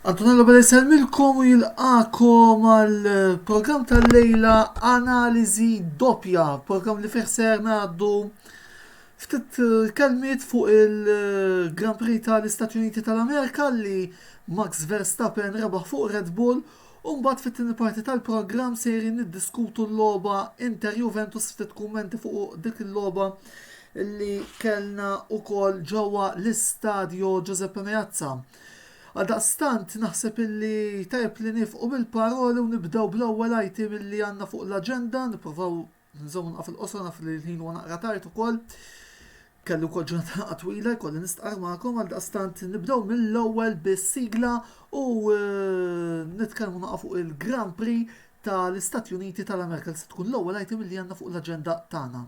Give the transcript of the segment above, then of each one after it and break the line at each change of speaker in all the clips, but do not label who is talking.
Antonello Bella jisemmilkom u jilqakom għal eh, program tal-lejla analizi doppja, program li fiħser naddu Ftit kelmiet fuq il-Grand Prix tal-Istati Uniti tal-Amerika li Max Verstappen rebaħ fuq Red Bull u mbagħad fit-tieni parti tal-programm sejrin niddiskutu l-logħba Inter Juventus ftit kummenti fuq dik il-logħba li kellna wkoll ġewwa l-Istadio Giuseppe Meazza. Għaldaqstant naħseb illi tajjeb li nifqu bil-paroli u nibdew bl-ewwel item illi għandna fuq l-aġenda, nipprovaw Nżomm naqaf il-qosor naf li l-ħin huwa naqra tard ukoll. Kellu kol ġurnata twila jkolli nistqar magħkom għal daqstant nibdew mill-ewwel bis-sigla u eh, nitkellmu naqa' fuq il-Grand Prix tal-Istati Uniti tal-Amerika li se tkun l-ewwel item li għandna fuq l-aġenda tagħna.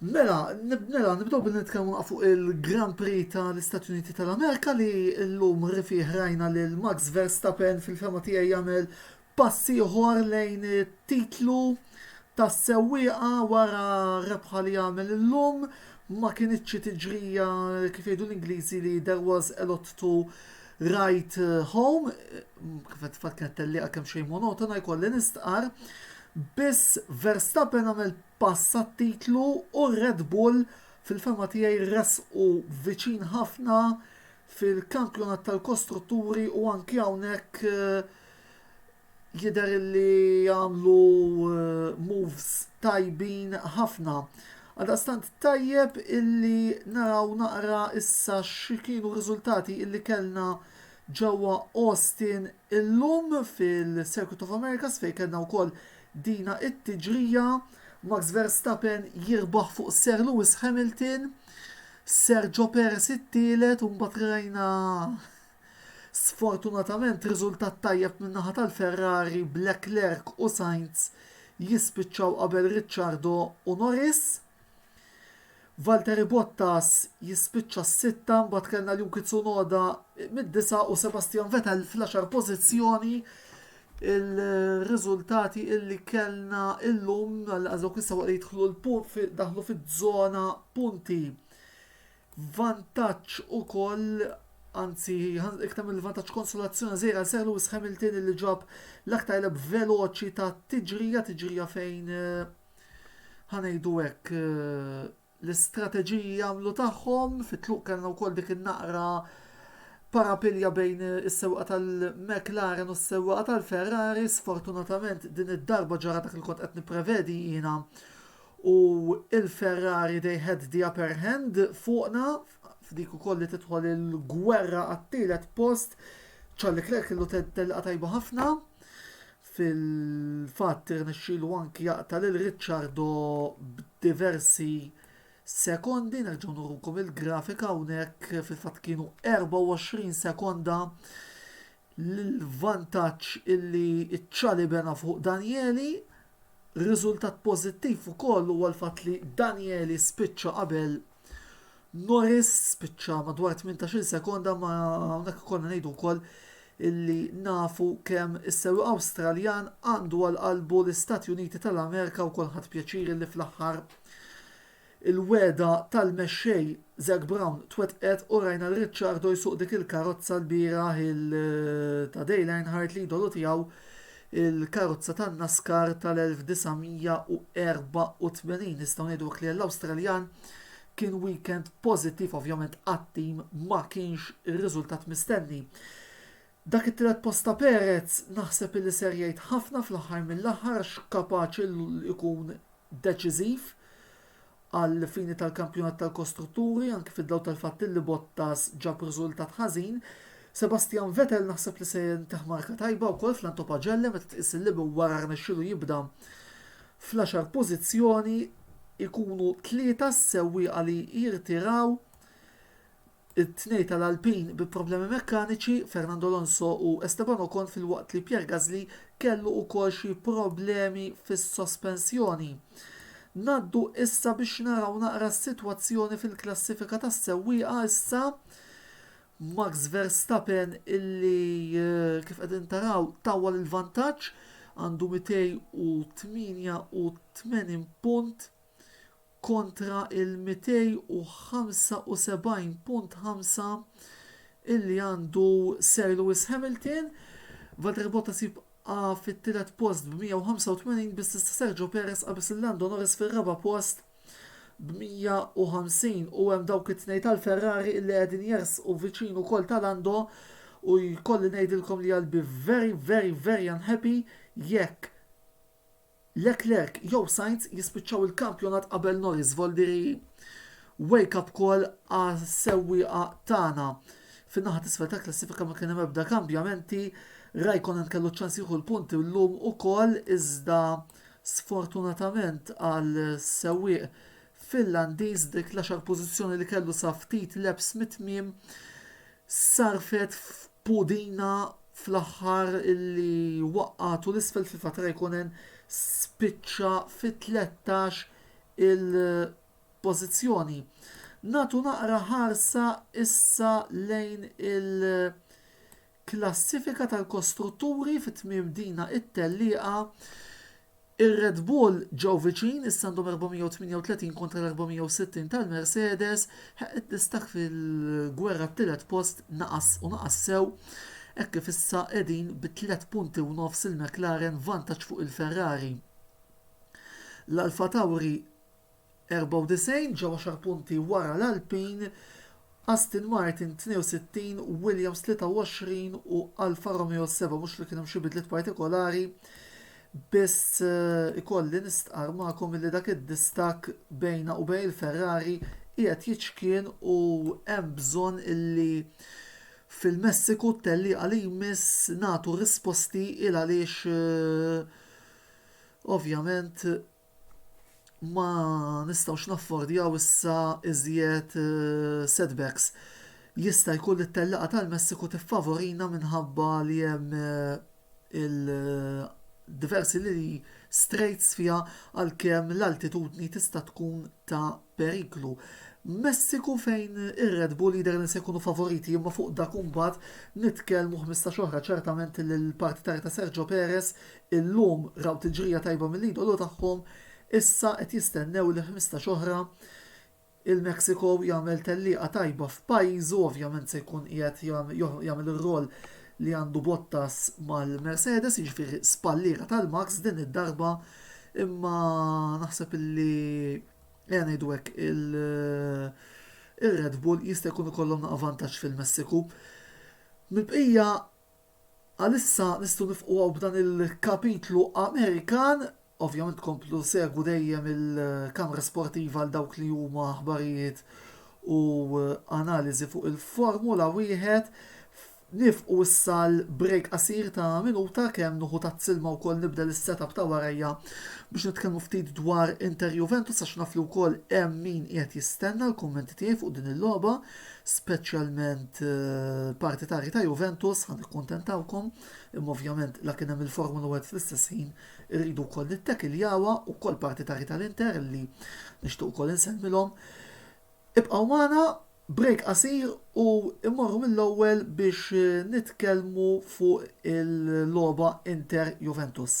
Mela, mela nibdew billi nitkellmu fuq il-Grand Prix tal-Istati Uniti tal-Amerika li llum rifih rajna lil Max Verstappen fil-fema tiegħi jagħmel pass ieħor lejn titlu tas-sewwieqa wara rebħa li għamel illum ma kinitx xi tiġrija kif jgħidu l-Ingliżi li there was a lot to write home kif qed kienet tellieqa kemm xejn monotona jkolli nistqar Biss Verstappen għamel pass għat-titlu u r-Red Bull fil-fehma tiegħi resqu viċin ħafna fil-Kampjonat tal-Kostrutturi u anki hawnhekk jidher li għamlu moves tajbin ħafna. Għaldaqstant tajjeb illi naraw naqra issa x'kienu r-riżultati illi kellna ġewwa Austin Illum fil-Circuit of Americas fejn kellna wkoll dina it-tiġrija, Max Verstappen jirbaħ fuq Sir Lewis Hamilton, Sergio Perez it-tielet u mbagħad rajna sfortunatament riżultat tajjeb min-naħa tal-Ferrari b'Leclerc u Sainz jispiċċaw qabel Ricciardo u Norris. Valtteri Bottas jispiċċa s-sitta, mbagħad kellna Yuki Tsunoda mid-disa' u Sebastian Vettel fl-għaxar pożizzjoni. Il-riżultati illi kellna illum għal dawk is-sewwa li jidħlu l-punt daħlu fiż-żona punti. Vantaġġ ukoll anzi iktar mill-vantaġġ konsolazzjoni żejra ser Lewis Hamilton li ġab l-aktar leb veloċi ta' tiġrija tiġrija fejn eh, ħa ngħidu hekk, l-istrateġiji jagħmlu tagħhom, fit-tluq kellna wkoll dik in-naqra parapilja bejn is-sewqa tal-McLaren u s-sewqa tal-Ferrari, sfortunatament din id-darba ġara dak li kont qed nipprevedi jiena u il-Ferrari they had the upper hand fuqna f'dik ukoll li tidħol il-gwerra għat-tielet post, Charlie Clerk kellu telqa tajba ħafna. Fil-fatt irnexxielu anki jaqta' lil Ricciardo b'diversi sekondi, nerġgħu nurukom il-grafika hawnhekk fil-fatt kienu 24 sekonda l-vantaġġ illi ċċali bena fuq Danieli. Riżultat pożittiv ukoll huwa l-fatt li Danieli spiċċa qabel Norris spiċċa madwar 18-il sekonda ma hawnhekk ikollna ngħidu wkoll illi nafu kemm is-sewwi Awstraljan għandu għal qalbu l-Istati Uniti tal-Amerika wkoll ħadd pjaċir li fl-aħħar il-wegħda tal-mexxej Zac Brown twettqet u rajna l Ricciardo jsuq dik il-karozza l-bieraħ il ta' Dale Earnhardt li idolu tiegħu Il-karozza tan-NASCAR tal-1984 nistgħu ngħidu hekk li l-Awstraljan kien weekend pożittiv ovvjament għat-tim ma kienx ir-riżultat mistenni. Dak it-tielet post ta' Perez naħseb illi ser jgħid ħafna fl-aħħar mill-aħħar għax kapaċi l- ikun deċiżiv għall-fini tal-kampjonat tal-kostrutturi, anki fid-dawl tal-fatt li Bottas ġab riżultat ħażin. Sebastian Vettel naħseb li se jinteħ marka tajba wkoll fl-Anto Pagelle meta tqis li minn wara rnexxielu jibda fl-għaxar pożizzjoni jkunu tlieta s-sewwieqa li jirtiraw It-tnej tal-Alpin bi problemi mekkaniċi, Fernando Alonso u Esteban Ocon filwaqt li Pierre Gasly kellu wkoll xi problemi fis-sospensjoni. Ngħaddu issa biex naraw naqra s-sitwazzjoni fil-klassifika tas-sewwieqa issa. Max Verstappen illi eh, kif qegħdin taraw tawwal il-vantaġġ għandu 288 punt kontra l-275.5 illi għandu Sir Lewis Hamilton. Valtteri Bottas jibqa' fit-tielet post b' 185 biss issa Sergio Perez qabeż lil Lando Norris fir-raba' post b' 150 u hemm dawk it-tnejn tal-Ferrari illi qegħdin jersqu viċin ukoll ta' Lando u jkolli ngħidilkom li I'll be very very very unhappy jekk Leclerc jew Sainz jispiċċaw il-kampjonat qabel Norris Voldiri wake up call għas-sewwieqa tagħna. Fin-naħa t'isfel tal-klassifika ma kien hemm ebda kambjamenti, Raikkonen kellu ċ-ċans jieħu l-punti llum ukoll iżda sfortunatament għas-sewwieq Finlandiż dik l-għaxar pożizzjoni li kellu sa ftit laps mit-tmiem Sarfet f'pudina fl-aħħar li waqqagħtu 'l isfel fil-fatt Räikkönen spiċċa fit-tlettax il pożizzjoni. Nagħtu naqra ħarsa issa lejn il klassifika tal-kostrutturi fi tmiem dina t-tellieqa. Ir-Red Bull ġew viċin, issa għandhom 438 kontra l-460 tal-Mercedes, ħa id-distakk fil-gwerra għat-tielet post naqas u naqas sew hekk kif issa qegħdin bi tliet punti u nofs il-McLaren vantaġġ fuq il-Ferrari. L-Alfa Tauri 94 ġew għaxar punti wara l-Alpine, Aston Martin 62, Williams 23 u Alfa Romeo 7, mhux li kien hemm xi bidliet partikolari, biss ikolli nistqarr magħkom illi dak id-distakk bejna u bejn il-Ferrari qiegħed jiċkien u hemm bżonn illi fil-Messiku t-tellieqa li jmiss nagħtu risposti il għaliex ovvjament ma nistgħux naffordjaw issa iżjed eh, setbacks. Jista' jkun li t-tellaqgħa tal-Messiku tiffavorina minħabba li hemm eh, il-diversi li straits fiha għalkemm l-altitudni tista' tkun ta' periklu. Messiku fejn ir-Red Bull jidher li se jkunu favoriti imma fuq dak imbagħad nitkellmu 15 oħra ċertament li l-partitarja ta' Sergio Perez Illum raw tiġrija tajba mill-idolu tagħhom, issa qed jistennew li ħmistax oħra. Il-Mexico jagħmel tellieqa tajba f'pajjiżu, ovvjament se jkun qiegħed jagħmel ir-roll li għandu Bottas mal-Mercedes, jiġifieri spalliera tal-Max din id-darba, imma naħseb li ejja ngħidu hekk il-Red Bull jista' jkun ikollhom naqa' vantaġġ fil-Messiku. Mill-bqija Għalissa nistgħu nifqu hawn b'dan il-kapitlu Amerikan. Ovvjament tkomplu segwu dejjem il-Kamra Sportiva għal dawk li huma aħbarijiet u analiżi fuq il-Formula wieħed. Nifqu issa l-break qasir ta' minuta kemm nuħu tazz-ilma wkoll nibdel is-setup ta' warajja biex nitkellmu ftit dwar Inter Juventus għax naf li wkoll hemm min qiegħed jistenna l-kummenti tiegħi fuq din il-logħba. speċjalment l-partitarji ta' Juventus, ħa nikkuntentawkom, imma ovvjament la kien hemm il-Formula 1 fl-istess ħin irridu wkoll nittekiljawha wkoll partitarji tal-Inter li nixtieq ukoll insemmilhom. Ibqgħu magħna break qasir u immorru mill-ewwel biex nitkellmu fuq il-logħba Inter Juventus.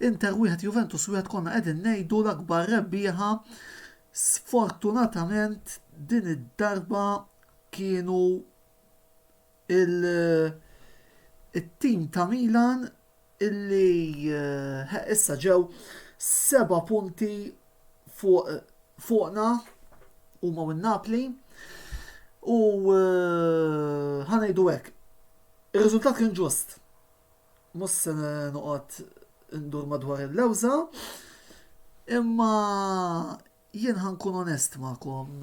Inter wieħed Juventus wieħed konna qegħdin ngħidu l-akbar rebbieħa sfortunatament din id-darba kienu il-tim ta' Milan illi issa ġew seba' punti fuqna huma u Napli u ħanejdu hekk. Ir-riżultat kien ġust. Mhux se noqgħod indur madwar il-lewża, imma Jien ħa nkun onest magħkom,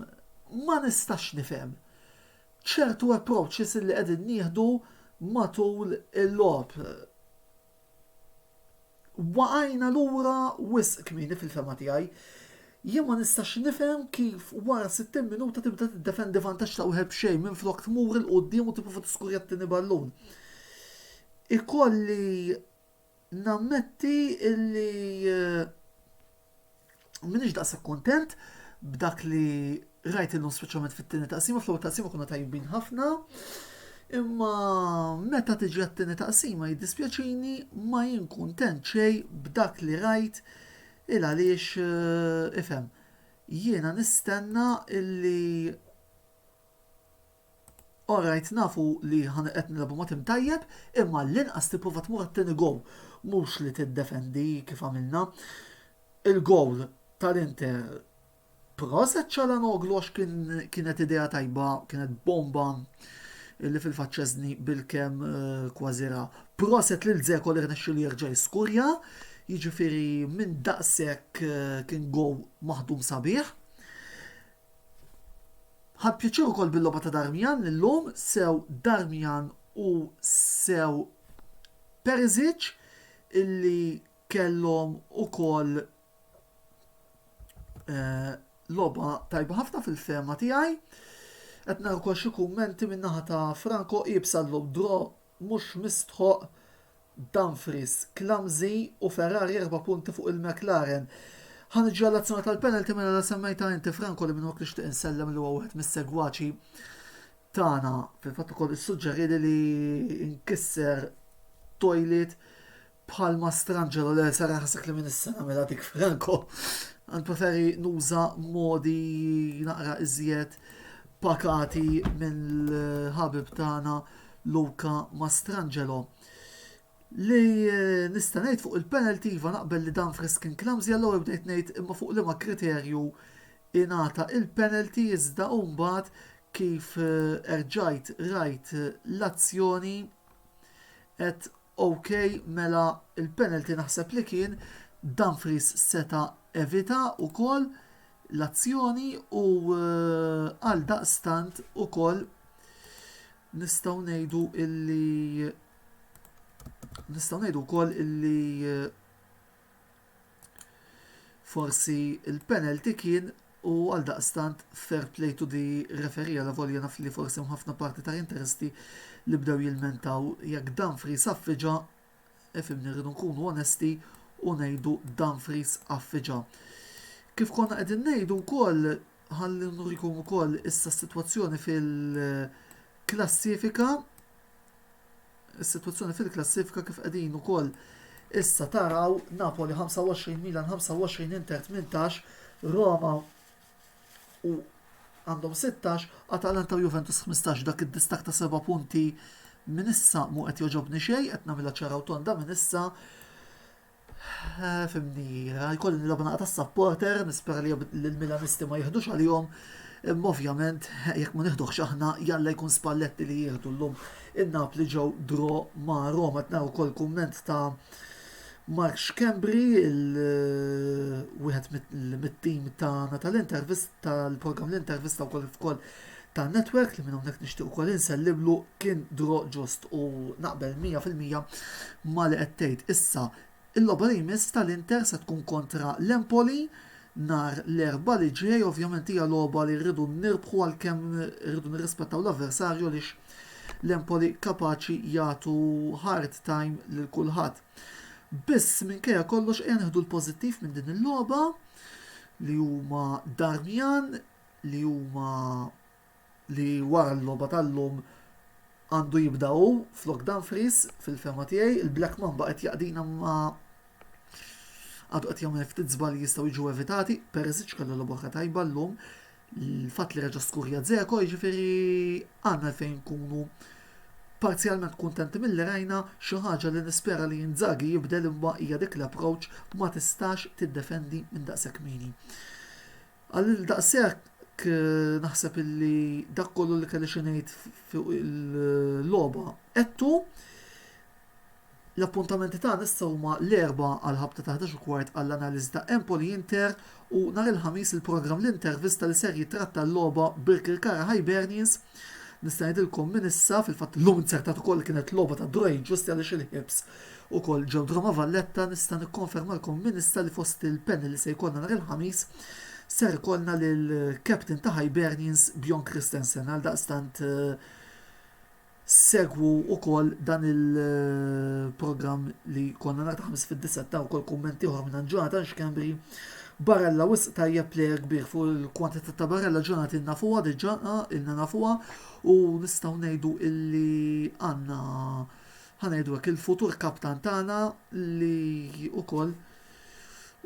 ma nistax nifhem ċertu approaches li qegħdin nieħdu matul il-logħob. Waqajna lura wisq kmieni fil-fehma tiegħi. Jien ma nistax nifhem kif wara 60 minuta tibda tiddefendi vantaġġ ta' wieħed b'xejn minflok tmur 'il quddiem u tipprova tiskurja t-tieni ballun. Ikolli Nammetti li m'iniex daqshekk kuntent b'dak li rajt illum speċjalment fit-tieni taqsima, fl-ewwel taqsima konna tajbin ħafna. Imma meta tiġi għat-tieni taqsima jiddispjaċini ma jien kuntent xejn b'dak li rajt il għaliex eh, ifhem. Jiena nistenna illi Alright nafu li ħa qed nilgħbu ma' tim tajjeb imma għall-inqas tipprova tmur għat-tieni goal mhux li tiddefendi kif għamilna. Il-goal tal-Inter proset Calhanoglu għax kien kienet idea tajba kienet bomba li fil-fatt Szczesny bilkemm kważi ra. Proset lil Dzeko li rnexxielu jerġa' jiskurja jiġifieri minn daqshekk kien goal maħdum sabiħ. Ħadt pjaċir ukoll bil-logħba ta' Darmian illum, sew Darmian u sew Perisic illi kellhom ukoll eh, logħba tajba ħafna fil-fehma tiegħi. Qed nara wkoll xi kummenti min-naħa ta' Franco iebsa llum draw mhux mistħoqq, Dumfries clumsy u Ferrari erba' punti fuq il-McLaren. Ħa niġi għall-azzjoni tal-penalty mela la semmejtha inti Franco li minnhokk nixtieq insellem li huwa wieħed mis-segwaċi tagħna. Fil-fatt ukoll issuġġerieli li nkisser toilet Bħalma stranġero li sar ħasek li minn is-sena mela dik Franco, għan preferi nuża modi naqra iżjed pakati minn l-ħabib tagħna Luka Mastrangelo. Li eh, nista' ngħid fuq il-penalty iva naqbel li dan friskin klamżi għallu bdejt ngħid imma fuq liema kriterju ingħata il-penalty iżda mbagħad kif eh, erġajt rajt eh, l-azzjoni qed OK mela l-penalty naħseb li kien Dumfries seta' evita wkoll l-azzjoni u għaldaqstant ukoll nistgħu ngħidu illi nistgħu ngħidu wkoll illi Forsi l-penalty kien u għaldaqstant fair play to the referee alavolja naf li forsi hemm ħafna parti ta' interesti li bdew jilmentaw jekk Dumfries affiġa, ifhimni rridu nkunu onesti u ngħidu Dumfries affiġa. Kif konna qegħdin ngħidu wkoll Ħalli nurikom ukoll issa s-sitwazzjoni fil-klassifika. Is-sitwazzjoni fil-klassifika kif qegħdin ukoll issa taraw Napoli 25, Milan 25, Inter 18, Roma u għandhom 16, Atalanta u Juventus 15 dak id-distak ta' 7 punti minn issa mu qed joġobni xejn, qed nagħmilha ċaraw tonda minn issa Fimni, jkolli nilgħab naqa' tas-supporter, nispera li l-Milanisti ma jiħdux għalihom. Imma ovvjament, jekk ma nieħduhx aħna, jalla jkun Spalletti li jieħdu llum. In-Napli ġew draw ma' Roma, qed nara wkoll kumment ta' Mark Schembri, wieħed mit-tim tagħna tal-intervist tal-programm l-intervista wkoll ta' network li minn hawnhekk nixtieq ukoll insellimlu kien draw ġust u naqbel 100% ma' li qed tgħid. Issa il-logħba li jmiss tal-Inter se tkun kontra l-Empoli nhar l-Erbgħa li ġej, ovvjament hija logħba li rridu nirbħu għalkemm irridu nirrispettaw l-avversarju għaliex l-Empoli kapaċi jagħtu hard time lil kulħadd. Biss minkejja kollox ejja nieħdu l-pożittiv minn din il-logħba li huma Darmian li huma li wara l-logħba tal-lum għandu jibda hu flok Dumfries fil-fehma tiegħi. Il-Black Mamba qed jaqdina ma għadu qed jagħmel ftit żbalji jistgħu jiġu evitati, Perisic kellu logħba tajba llum l-fatt li reġa' skurja Dzeko jiġifieri għandna fejn nkunu parzjalment kuntenti milli rajna xi ħaġa li nispera li Inzaghi jibdel imma hija dik l-approach ma tistax tiddefendi minn daqshekk kmieni. Għalhekk daqshekk naħseb illi dak kollu li kelli xi ngħid fuq il-logħba għedtu. L-appuntamenti tagħna issa huma l-erba' għal ħabta ta' 11 kwart għall-analiżi ta' Empoli Inter u nhar il-Ħamis il-programm l-intervista li ser jitratta l-logħba Birkirkara Hibernians. Nista' ngħidilkom minn issa, fil-fatt illum inzertat ukoll kienet logħba ta' Dwayne Ġusti għaliex il-Hibs Ukoll ġewt Roma Valletta nista' nikkonfermalkom minn issa li fost il-panel li se jkollna nhar il-Ħamis ser ikollna lill-captain ta' Hibernians Bjorn Kristensen għaldaqstant segwu ukoll dan il-programm li jkollna nhar il-Ħamis fid-disgħa ta' ukoll kumment ieħor mingħand Jonathan Schembri Barella wisq tajjeb plejer kbir fuq il-kwantità ta' Barella Jonathan nafuha diġà ilna nafuha u nistgħu ngħidu illi għandna Ħa ngħidu hekk, il-futur kaptan tagħna li wkoll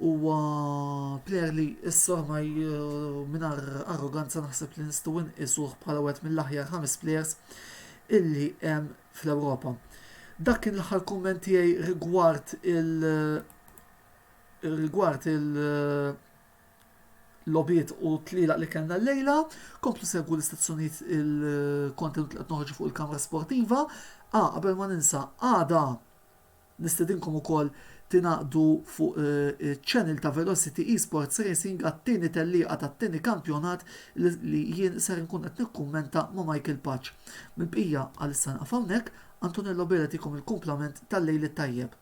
huwa plejer li issa ormai mingħajr arroganza naħseb li nistgħu nqisuh bħala wieħed mill-aħjar ħames plejers illi hemm fl-Ewropa. Dak kien l-aħħar kumment tiegħi rigward il- rigward il- logħbiet u tlielaq li kellna llejla. Komplu segwu l-istazzjonijiet il-kontenut li qed noħorġu fuq il-kamra sportiva. A qabel ma ninsa, għada nistedinkom ukoll tingħaqdu fuq eh, channel ta' Velocity Esports Racing għat-tieni tellieqa tat-tieni kampjonat li jien ser nkun qed nikkummenta ma' Michael Paċ. Mill-bqija għal issa naqaf hawnhekk, Antonello Bela tikom il-kumplament tal-lejl it-tajjeb.